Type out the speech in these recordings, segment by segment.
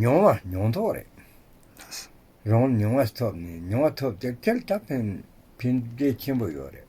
མྱོང་བ་མྱོང་ཐོག་རེད། རང་ངོ་མྱོང་བ་ཐོབ་ནས་མྱོང་བ་ཐོབ་སྟེ་སྐྱེལ་ཐབས་ཕན་འབྲས་ཆེན་པོ་ཡོད་རེད།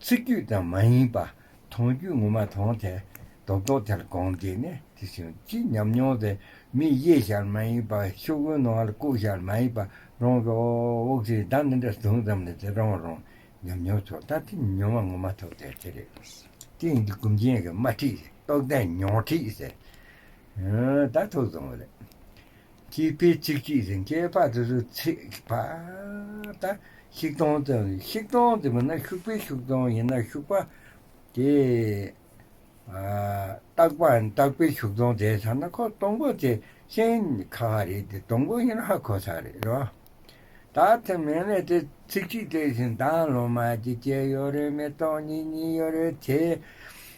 ཚིག་རྒྱུད་དང་མ་ཡིན་པ་མཐོང་རྒྱུ་ངོ་མ་མཐོང་དེ་རྡོག་རྡོག་དེར་དགོངས་དེ་ནས་དེ་བཞིན་གྱི་ཉམས་མྱོང་དེ་མི་གཡེལ་ཞར་མ་ཡིན་པ་ཤོག་བུའི་ནང་ལ་བཀུག་ཞར་མ་ཡིན་པ་རང་གི་འོག་ཚེ་བདག་མི་འདྲ་བཟུང་ཙམ་ལས་དེ་རང་རང་ཉམས་མྱོང་ཚོ་ལྟ་དེ་མྱོང་བ་ངོ་མ་ཐོབ་དེ་དེ་རེད། དེ་ཡིན་གྱི་གུམ་ཆེན་གྱི་དམར་ཁྲིད་རྟོགས་ལྡན་མྱོང་ཁྲིད་ཟེར་ད་ཐོག་བཟུང་བ་རེད། སྐྱེས་དཔེ་གཅིག་གཅིག་རིང་སྐྱེས་པ་དེ་ཚོའི་ཚེག་བར་ད་ཤིག་སྟོང་ཙམ་རེད། ཤིག་སྟོང་དེ་མིན་ན་ཤུག་པའི་ཤུག་སྟོང་ཡིན་ན་ཤུག་པ་དེ། སྟག་པ་ཡིན་སྟག་པའི་ཤུག་སྟོང་དེ་ཚང་ན་ཁོ་སྟོང་པོ་དེ་ཤིང་ཁ་ཁ་རེད་དེ་སྟོང་པོ་ཡིན་ན་ཧ་གོ་ས་རེད་རེད་བ། ད་དེ་མིན་ན་དེ་ཚིག་གཅིག་དེ་བཞིན་དང་ལོ་མ་གཅིག་སྐྱེས་ཡོད་རེད་མི་སྟོང་གཉིས་གཉིས་ཡོད་རེད་དེ།